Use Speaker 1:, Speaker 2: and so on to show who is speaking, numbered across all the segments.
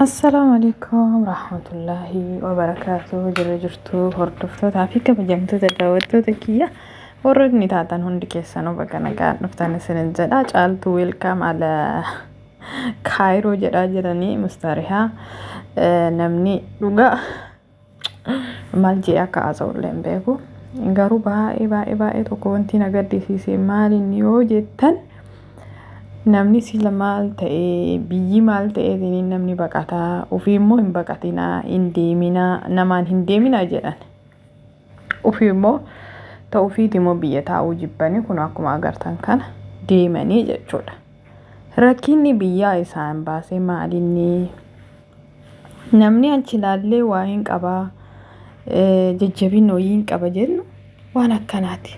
Speaker 1: Assalaamu alaikum rahmatullahi wa barakaatuhu jirra jirtu hordoftootaa fi kabajamtoota daawwattoota kiyya warrootni taatan hundi keessanuu baga nagaan dhuftan isinin jedha caaltuu weelkaam ala kaayiroo jedhaa jiranii mustarihaa namni dhugaa Maal jedhee akka haasa'ullee hin beeku. Garuu baay'ee baay'ee baay'ee tokko wanti na gaddisiise maal inni yoo jettan namni sila maal ta'ee biyyi maal ta'ee isiniin namni baqataa ofii immoo hin baqatinaa hin deeminaa namaan hin deeminaa jedhan. Ofii immoo ta'u ofiiti immoo biyya taa'uu jibbanii kun akkuma agartan kana deemanii jechuudha. Rakkinni biyyaa isaan baase maal inni? Namni achi ilaallee waa hin qabaa jajjabina wayii hin qaba jennu waan akkanaati.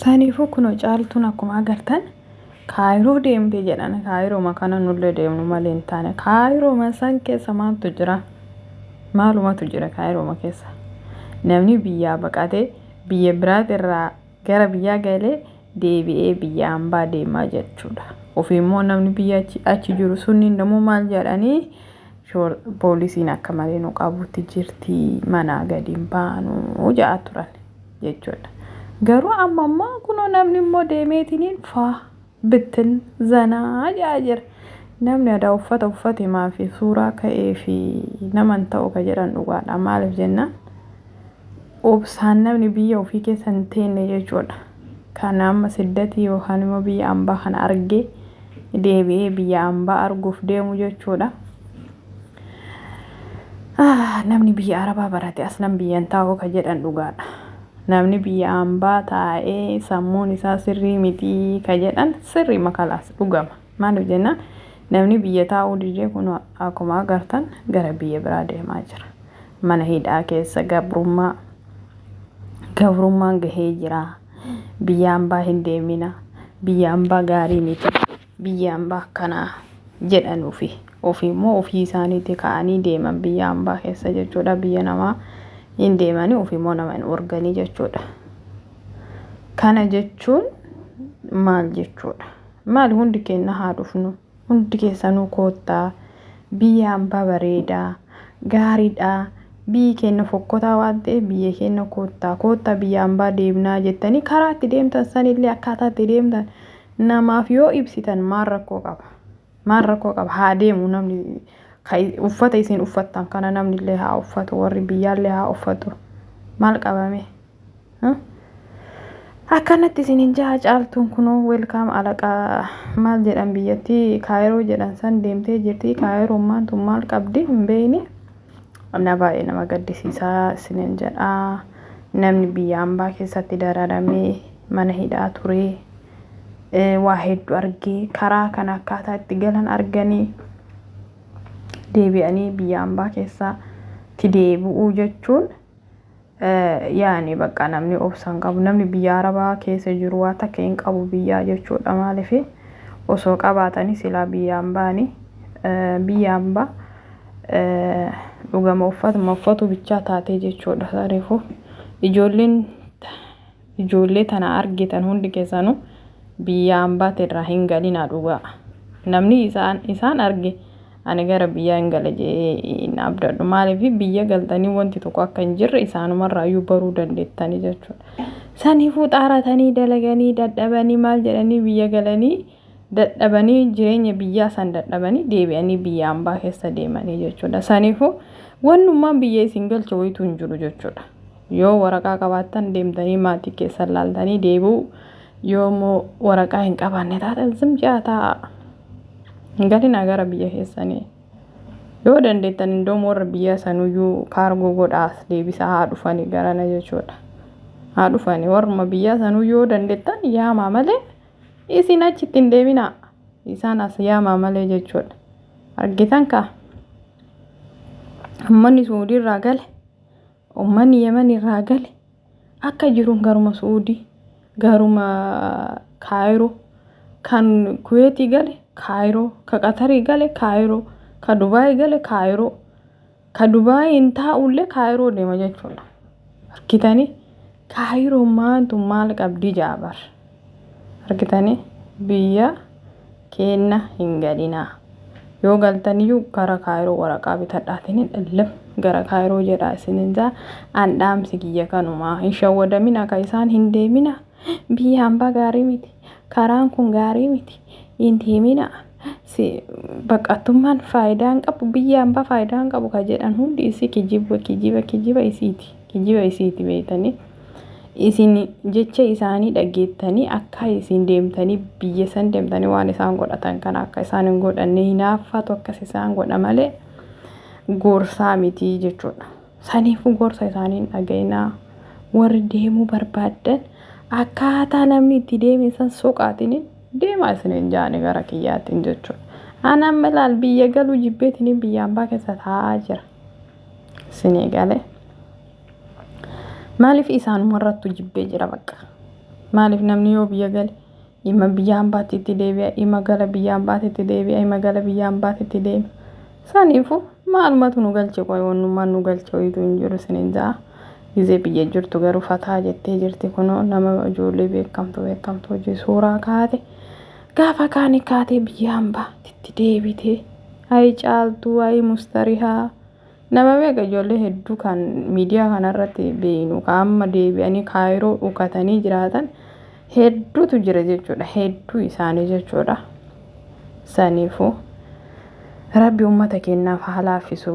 Speaker 1: Saniifuu kunoo caaltuun akkuma agartan kaayiroo deemte jedhan kaayirooma kana nullee deemnu malee hin taane kaayirooma san keessa maaltu jira maalumatu jira kaayirooma keessa namni biyyaa baqatee biyya biraati irraa gara biyyaa galee deebi'ee biyya hambaa deemaa jechuudha ofiimmoo namni biyya achi jiru sunniin namuu maal jedhanii Shoor poolisiin akka malee nu qabuutti jirti manaa gadi hin baanu ja'a turan jechuudha. Garuu amma immoo kunoo namni immoo deemeetiniin faa bittin zanaa ja'a jira. Namni adaa uffata uffate maafi suuraa ka'ee fi nama hin ta'u ka jedhan dhugaadha. Maaliif jennaan obsaan namni biyya ofii keessa hin teenne jechuudha. kana amma siddati yookaan immoo biyya ambaa kana argee deebi'ee biyya ambaa arguuf deemu jechuudha. Namni biyya arabaa barate aslan biyyan taa'uu ka jedhan dhugaadha. Namni biyya ambaa taa'ee sammuun isaa sirrii mitii ka jedhan sirrii makalaas dhugama. Maaliif jennaan namni biyya taa'uu didee kunoo akkuma agartan gara biyya biraa deemaa jira. Mana hidhaa keessa gabrummaa gabrummaan gahee jira. Biyya ambaa hin deemina. Biyya ambaa gaarii miti. Biyya ambaa akkanaa jedhan ofii. Ofii immoo ofii isaaniitii ka'anii deeman biyya ambaa keessa jechuudha. Biyya namaa hin deemanii ofii immoo nama hin organii jechuudha. Kana jechuun maal jechuudha? Maali hundi keenna haa dhufnu. Hundi keessanuu koottaa. Biyya ambaa bareedaa. Gaariidha. Biyyi keenna fokkotaa waan ta'eef biyya keenna koottaa. Koottaa biyya ambaa deemnaa jettanii karaa itti deemtan sanillee akkaataa itti deemtan namaaf yoo ibsitan maal rakkoo qaba? Maal rakkoo qaba? Haa deemu namni ka uffata isin uffattan kana namnillee haa uffatu warri biyyaallee haa uffatu. Maal qabame? Akkanatti isinin jaha caaltuun kunoo welkaam alaqaa maal jedhan biyyattii kaayiroo jedhan san deemtee jirti kaayiroon maantu maal qabdi hin beeyne na baay'ee nama gaddisiisaa isinin jedha namni biyya ambaa keessatti dararamee mana hidhaa turee waa hedduu argee karaa kan akkaataa itti galan arganii deebi'anii biyya ambaa keessatti deebi'uu jechuun Yaani bakka namni obsa hin qabu namni biyya arabaa keessa jiru waa takka hin qabu biyyaa jechuudha maaliif osoo qabaatanii silaa biyyaan baani biyyaan ba dhugama uffatuma uffatu bichaa taatee jechuudha sarifu ijoolleen Ijoollee tana argitan hundi keessanu biyyaa ambaati irraa hin galinaa dhugaa namni isaan isaan arge ani gara biyyaa hin gala jedhee hin abdadhu maaliif biyya galtanii wanti tokko akka hin jirre isaanumarraa iyyuu baruu dandeettanii jechuudha saniifuu xaaratanii dalaganii dadhabanii maal jedhanii biyya galanii dadhabanii jireenya biyyaa san dadhabanii deebi'anii biyya ambaa keessa deemanii jechuudha saniifuu wannummaan biyya isin galcha wayituu hin jiru jechuudha Yoo waraqaa qabaattan deemtanii maatii keessan laaltanii deebi'u. Yoo immoo waraqaa hin qabaanne taatan zim ja'a taa'a. Hin galinaa gara biyya keessanii. Yoo dandeettan indoom warra biyya sanuyyuu kaargoo godhaas deebisaa haa dhufanii garana jechuudha. Haa dhufanii warruma biyya sanuu yoo dandeettan yaamaa malee isin achitti hin deebinaa. Isaan as yaamaa malee jechuudha. Argitan kaa? Ummanni Suudiirraa gale. Ummanni Yemen irraa gale akka jiruun garuma Su'uudii, garuma Kaayiroo, kan Kuweetii gale Kaayiroo, ka Qatarii gale Kaayiroo, ka Dubaay gale Kaayiroo, ka Dubaayiin taa'ullee Kaayiroo deema jechuudha. Argitanii? Kaayiroon maantu maal qabdi jaabar? argitanii biyya keenna hin galinaa yoo galtaniyyuu gara kaayiroo waraqaa bitadhaatiin illim gara kaayiroo jedhaa isinin jaa an dhaamsi kiyya kanumaa hin shawwadamina ka isaan hin deemina biyya hambaa gaarii miti karaan kun gaarii miti hin deemina si baqattummaan faayidaa hin qabu biyya hambaa faayidaa hin qabu ka jedhan hundi isii kijiba kijiba kijiba isiiti kijiba isiiti beeytanii Isin jecha isaanii dhageettanii akka isin deemtanii biyya san deemtanii waan isaan godhatan kana akka isaan hin godhanne hinaaffaatu akkas isaan godha malee gorsaa miti jechuudha. Saniifuu gorsa isaanii hin dhaga'inaa. Warri deemuu barbaaddan akkaataa namni itti deeme san soqaatiin deemaa isin hin jaane gara kiyyaatiin jechuudha. Ani amma ilaal biyya galuu jibbeetiin biyya ambaa keessa taa'aa jira. Isin eegalee. Maaliif isaanuma irrattu jibbee jira bakka. Maaliif namni yoo biyya gale ima biyya hambaatti itti deebi'a ima gala biyya hambaatti itti deebi'a ima gala biyya hambaatti itti deebi'a. Saniifu maalumatu nu galche qoy wannummaan nu galche wayitu hin jiru sinin ja'a. Gizee biyya jirtu garuu fataa jettee jirti kunoo nama ijoollee beekamtu beekamtu hojii suuraa kaate. Gaafa kaani kaatee biyya hambaatti itti deebitee. Ayi caaltuu ayi mustarihaa. Nama meeqa ijoollee hedduu kan miidiyaa kanarratti beeynu kan amma deebi'anii kaayiroo dhukatanii jiraatan hedduutu jira jechuudha. Hedduu isaanii jechuudha. Saniifuu rabbi uummata keenyaaf haa laaffisu.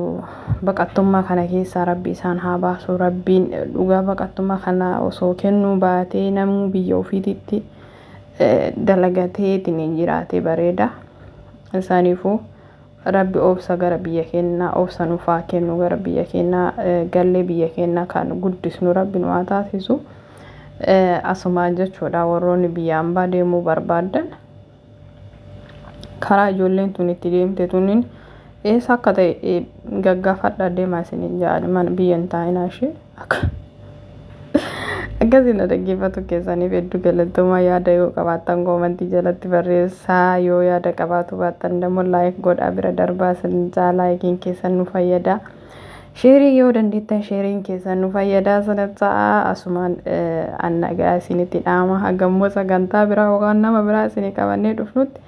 Speaker 1: Baqattummaa kana keessaa rabbi isaan haa baasu. Rabbiin dhugaa baqattummaa kana osoo kennuu baatee namuu biyya ofiititti dalagateetiin jiraate bareeda. Saniifuu Rabbi obsa gara biyya keenna obsa nuuf haa kennu gara biyya keenna gallee biyya keenna kan guddisnu rabbi nu haa taasisu asumaan jechuudha warroonni biyya ambaa deemuu barbaaddan karaa ijoolleen tun itti deemte tunin eessa akka ta'e gaggaafadha deemaa isinin ja'ani mana biyya hin taa'inaa ishee Akkasii na dhaggeeffatu keessaniif hedduu galatoomaa yaada yoo qabaattan koomantii jalatti barreessaa yoo yaada qabaatu baattan immoo laayik godhaa bira darbaa sin jaa laayikiin keessan nu fayyada. Sheerii yoo dandeettan sheeriin keessan nu fayyadaa sana ta'a asumaan annagaa isinitti dhaama hagammoo sagantaa biraa yookaan nama biraa isinii qabannee dhufnutti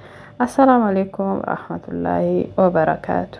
Speaker 1: assalaamu alaikum rahmatullaahi wabarakaatu.